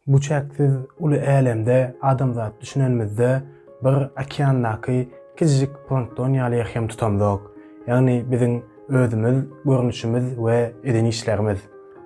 Bu çäksiz uly älemde adamzat düşünenimizde bir okeandaky kiçijik plankton ýaly ýerhem tutamzok. Ýagny biziň özümiz, görnüşimiz we eden işlerimiz.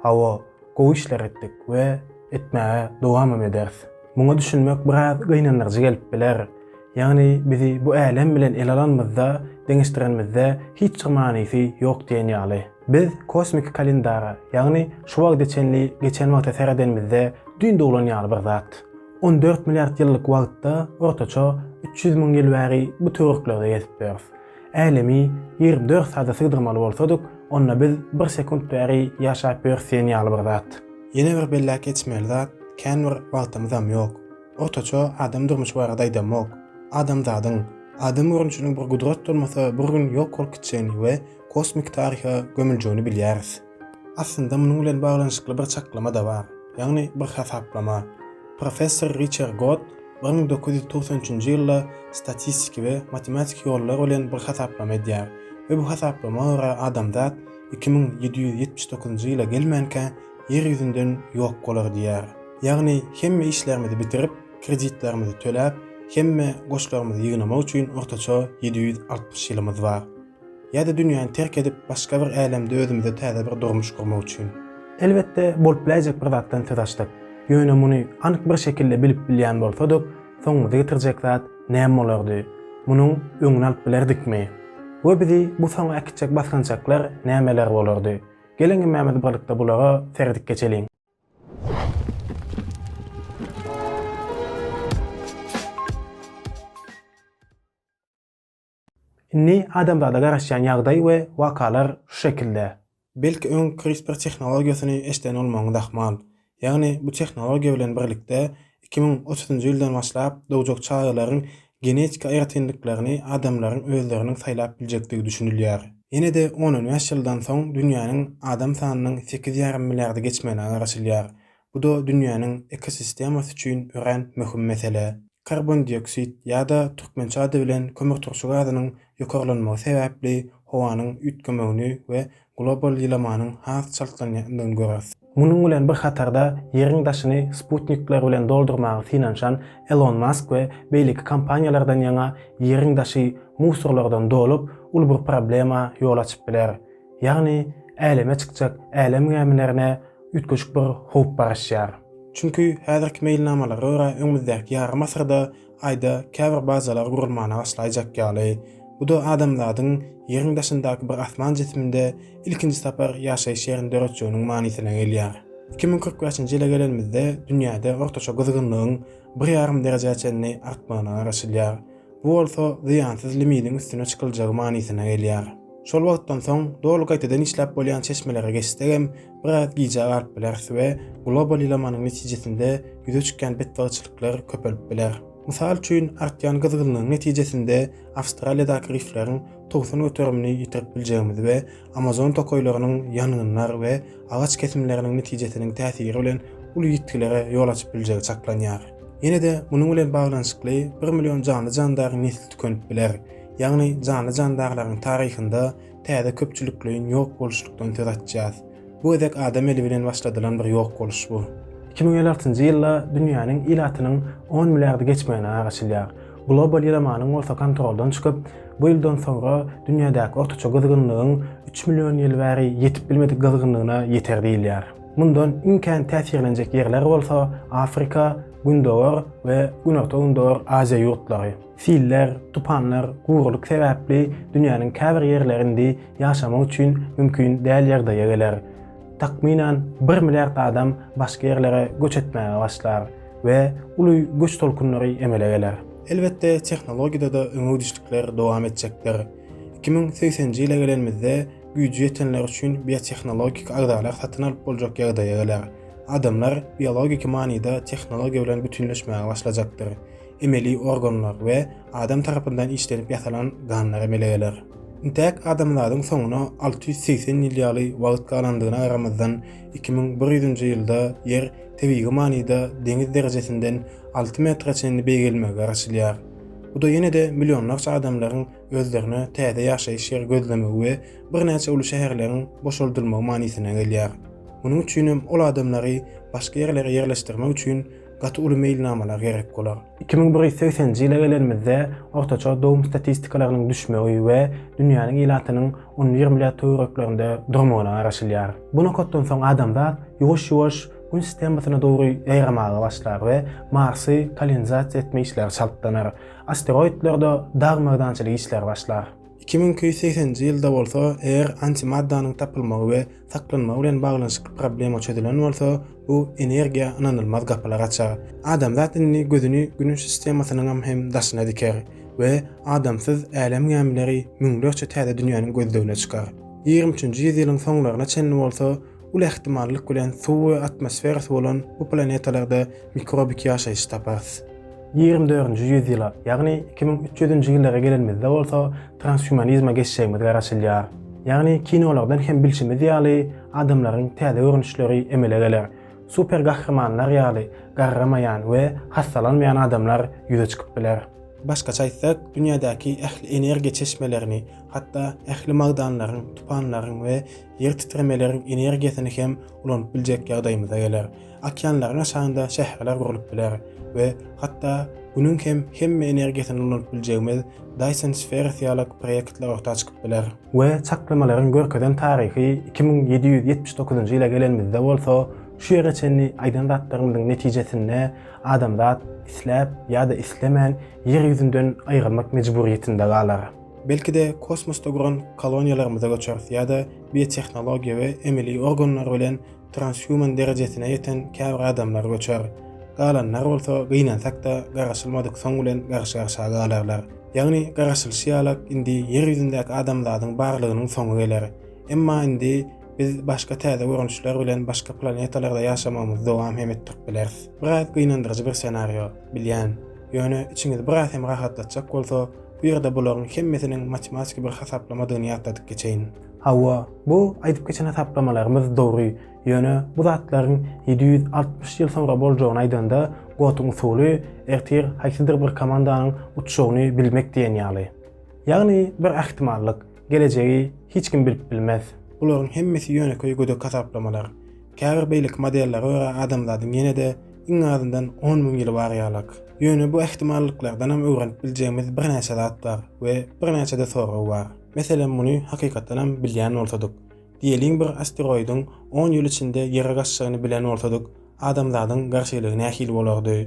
Hawa, gowy işler etdik we etmäge dowamam ederis. Muňa düşünmek biraz gynandyryjy gelip biler. Ýagny bizi bu älem bilen ele alanymyzda, deňeşdirenimizde hiç bir manysy ýok diýen ýaly. Biz kosmiki kalendara, ýagny şu wagta çenli geçen wagta seredenimizde düýn doglan ýaly bir zat. On dört milliard ýyllyk wagtda ortaça üç ýüz müň ýyl bäri bu töwereklerde gezip ýörüs. Älemi ýigrimi dört sada sygdyrmaly bolsadyk, onda biz bir sekunt bäri ýaşap ýörüs diýen ýaly bir zat. Ýene bir belläp geçmeli zat, kän bir wagtymyzam ýok. Ortaça adam durmuşy barada aýdamok. Adamzadyň, adam görnüşiniň bir gudrat bolmasa bir gün ýok bolup gitjegini we kosmik taryha gömüljegini bilýäris. Aslynda munuň bilen baglanyşykly bir çaklama-da bar, ýagny bir hasaplama. Professor Riçer Gott bir müň dokuz ýüz togsan üçünji ýylda statistiki we matematiki ýollar bilen bir hasaplama edýär we bu hasaplama görä adamzat iki müň ýedi ýüz ýetmiş dokuzynjy ýyla gelmänkä Ýer ýüzünden ýok bolar diýýär. Ýagny hemme işlerimizi bitirip, kreditlerimizi töläp, hemme goşlarymyzy ýygnamak üçin ortaça ýedi ýüz altmyş ýylymyz bar. Ýa-da dünýäni terk edip, başga bir älemde özümize täze bir durmuş gurmak üçin. Elbetde, bolup biläýjek bir zatdan söz açdyk. Ýöne muny anyk bir şekilde bilip bilýän bolsadyk, soňumyzy getirjek zat näme bolardy? Munuň öňüni alyp bilerdikmi? We bizi bu soňa äkitjek basgançaklar nämeler bolardy? Geliň hemmämiz birlikde bulara seredip geçeliň. Indi adamzada garaşýan ýagdaý we wakalar şu şekilde. Belki öň CRISPR tehnologiýasyny eşden bolmagyňyz ahmal. Ýagny bu tehnologiýa bilen birlikde iki müň otuzynjy ýyldan başlap dogjak çagalaryň genetiki aýratynlyklaryny adamlaryň özleriniň saýlap biljekdigi düşünilýär. Ýene-de on-on bäş ýyldan soň dünýäniň adam sanynyň sekiz ýarym milliardy geçmegine garaşylýar. Bu-da dünýäniň ekosistemasy üçin örän möhüm mesele. Karbondioksid ýa-da türkmençe ady bilen kömürturşy gazynyň ýokarlanmagy sebäpli howanyň üýtgemegini we global ýylamanyň has çaltlanýandygyny göreris. Munuň bilen bir hatarda Ýeriň daşyny sputnikler bilen doldurmaga synanyşan Elon Mask we beýleki kompaniýalardan ýaňa Ýeriň daşy musorlardan dolup, uly bir problema ýol açyp biler. Ýagny, äleme çykjak älem gämilerine üýtgeşik bir howp garaşýar. Çünki häzirki meýilnamalara görä öňümizdäki ýarym asyrda Aýda käbir bazalar gurulmana başlaýjak ýaly. Bu-da adamzadyň Ýeriň daşyndaky bir asman jisiminde ilkinji sapar ýaşaýyş ýerini döretjeginiň manysyna gelýär. Iki müň kyrk bäşinji ýyla gelenimizde dünýäde ortaça gyzgynlygyň bir ýarym derejä çenli artmagyna garaşylýar. Bu bolsa zyýansyz limidiň üstüne çykyljagy manysyna gelýär. Şol wagtdan soň doly gaýtadan işläp bolýan çeşmelere geçsegem, biraz gijä galyp bileris we global ýylamanyň netijesinde ýüze çykýan betbagtçylyklar köpelip biler. Mysal üçin, artýan gyzgynlygyň netijesinde Awstraliýadaky rifleriň togsan göterimini ýitirip biljegimizi we Amazon tokaýlarynyň ýangynlar we agaç kesimleriniň netijesiniň täsiri bilen uly ýitgilere ýol açyp biljegi çaklanýar. Ýene-de munuň bilen baglanyşykly bir million janly-jandaryň nesli tükenip biler, ýagny janly-jandarlaryň taryhynda täze köpçülikleýin ýok boluşlykdan söz açýas. Bu gezek adam eli bilen başladylan bir ýok boluş bu. Iki müň elli altynjy ýylda dünýäniň ilatynyň on milliardy geçmegine garaşylýar. Global ýylamanyň bolsa kontroldan çykyp, bu ýyldan soňra dünýädäki ortaça gyzgynlygyň üç million ýyl bäri ýetip bilmedik gyzgynlygyna ýeter diýilýär. Mundan iň kän täsirlenjek ýerler bolsa Afrika, Gündogar we Günorta-Gündogar Aziýa ýurtlary. Siller, tupanlar, gurulyk sebäpli dünýäniň käbir ýerleri indi ýaşamak üçin mümkin däl ýagdaýa geler. Takmynan bir milliard adam başga ýerlere göç etmäge başlar. we uly göç tolkunlary emele geler. Elbetde, tehnologiýada-da öňegidişlikler dowam etjekdir. Iki müň segseninji ýyla gelenimizde güýji ýetenler üçin biotehnologik agzalar satyn alyp boljak ýagdaýa geler. Adamlar biologiki manyda tehnologiýa bilen bütünleşmäge başlajakdyr. Emeli organlar we adam tarapyndan işlenip ýasalan ganlar emele geler. Intäk adamzadyň soňuna alty ýüz segsen ýyl ýaly wagt galandygyna garamazdan, iki müň bir ýüzünji ýylda Ýer tebigy manyda deňiz derejesinden alty metre çenli beýgelmegi garaşylýar. Bu-da ýene-de millionlarça adamlaryň özlerine täze ýaşaýyş ýeri gözlemegi we birnäçe uly şäherleriň boşaldylmagy manysyna gelýär. Munuň üçinem ol adamlary başga ýerlere ýerleşdirmek üçin gaty uly meýilnamalar gerek bolar. Iki müň bir ýüz segseninji ýyla gelenimizde ortaça dogum statistikalarynyň düşmegi we dünýäniň ilatynyň on bir milliard töwereklerinde durmagyna garaşylýar. Bu nokatdan soň adamzat ýuwaş-ýuwaş Gün sistemasyna dogry ýaýramaga başlar we Marsy kolonizasiýa etme işleri çaltlanar, asteroidlerde dag-merdançylyk işleri başlar. Iki müň iki ýüz segseninji ýylda bolsa, eger antimaddanyň tapylmagy we saklanmagy bilen baglanyşykly problema çözülen bolsa, bu energiýa ynanylmaz gapylar açar. Adamzat indi gözüni Günüş sistemasynyňam hem daşyna diker we adamsyz älem gämileri müňlerçe täze dünýäniň gözlegine çykar. Ýigrimi üçünji ýüzýylyň soňlaryna çenli bolsa, Uly ähtimallyk bilen suwy, atmosferasy bolan bu planetalarda mikrobiki ýaşaýyş taparys. Ýigrimi dördünji ýüz ýyla, ýagny iki müň üç ýüzünji ýyllara gelenimizde bolsa transhumanizme geçjegimiz garaşylýar. Ýagny kinolardan hem bilşimiz ýaly adamlaryň täze görnüşleri emele geler. Super gahrymanlar ýaly garramaýan we hassalanmaýan adamlar ýüze çykyp biler. Başgaça aýtsak, dünýädäki ähli energiýa çeşmelerini, hatda ähli magdanlaryň, tupanlaryň we ýer titremeleriň energiýasyny hem ulanyp biljek ýagdaýymyza geler. Okeanlaryň aşagynda şäherler gurlup biler we hatda Günüň hem hemme energiýasyny ulanyp biljegimiz Dyson Spheres ýaly proýektler orta çykyp biler. We çaklamalaryň görkezen taryhy iki müň ýedi ýüz ýetmiş dokuzynjy ýyla gelenimizde bolsa, şu ýere çenli aýdan zatlarymyzyň netijesinde adamzat isläp ýa-da islemän Ýer ýüzünden aýrylmak mejburyýetinde galar. Belki-de, kosmosda guran koloniýalarymyza göçeris ýa-da biotehnologiýa we emeli organlar bilen transhuman derejesine ýeten käbir adamlar göçer. Galanlar bolsa gynansak-da garaşylmadyk soň bilen garşy-garşa galarlar. Ýagny, garaşylyşy ýalak indi Ýer ýüzündäki adamzadyň barlygynyň soňy geler. Emma indi biz başga täze görnüşler bilen başga planetalarda ýaşamagymyzy dowam hem etdirip bileris. Biraz gynandyryjy bir senario, bilýän. Ýöne içiňizi biraz hem rahatlatjak bolsa, Bu ýerde bularyň hemmesiniň matematiki bir hasaplamadygyny ýatladyp geçeýin. Hawa, bu aýdyp geçen hasaplamalarymyz dogry, ýöne bu zatlaryň ýedi ýüz altmyş ýyl soňra boljagyny aýdanda, Gotuň usuly ertir haýsydyr bir komandanyň uçjagyny bilmek diýen ýaly. Ýagny bir ähtimallyk, gelejegi hiç kim bilip bilmez. Bularyň hemmesi ýönekeý gödek hasaplamalar. Käbir beýleki modellere görä adamzadyň ýene-de iň azyndan on müň ýyl bar ýalak. Ýöne bu ähtimallyklardanam öwrenip biljegimiz birnäçe zat bar we birnäçe-de sorag bar. Meselem, muny hakykatdanam bilýän bolsadyk, diýeliň bir asteroidiň on ýyl içinde Ýere gaçjagyny bilen bolsadyk, adamzadyň garşylygy nähili bolardy?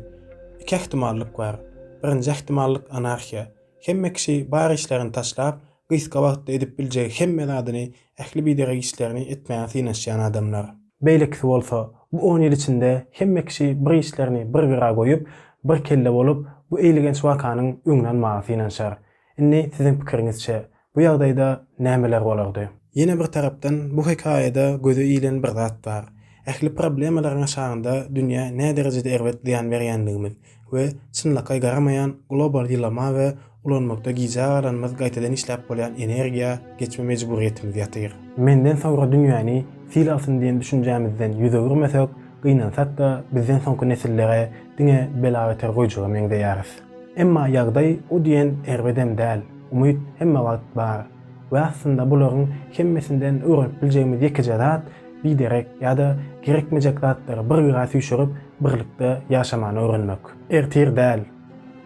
Iki ähtimallyk bar. Birinji ähtimallyk anarhiýa. Hemme kişi bar işlerini taşlap, gysga wagtda edip biljegi hemme zadyny, ähli biderek işlerini etmäge synanyşýan adamlar. Beýlekisi bolsa, bu on ýyl içinde hemme kişi bir işlerini bir gyra goýup, bir kelle bolup, bu eýlegenç wakanyň öňüni almaga synanyşar. Indi siziň pikiriňizçe, bu ýagdaýda nämeler bolardy? Ýene bir tarapdan, bu hekaýada göze ilen bir zat bar. Ähli problemalaryň aşagynda dünýä näderejede erbet zyýan berýändigimiz, we çynlakaý garamaýan global ýylama we ulanmakda gijä galanymyz gaýtadan işläp bolýan energiýa geçme mejburyýetimiz ýatyr. Menden soňra dünýäni sil alsyn diýen düşünjämizden ýüz öwürmesek, gynansak-da bizden soňky nesillere diňe bela beter goýjaga meňzeýäris. Emma ýagdaý o diýen erbedem däl, umyt hemme wagt bar. We aslynda bularyň hemmesinden öwrenip biljegimiz ýekeje zat, biderek ýa-da gerekmejek zatlary bir gyra süýşürip, birlikde ýaşamany öwrenmek. Ertir däl,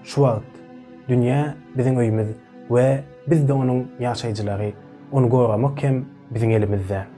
şu wagt. Dünýä biziň öýümiz we biz-de onuň ýaşaýjylary. Ony goramak hem biziň elimizde.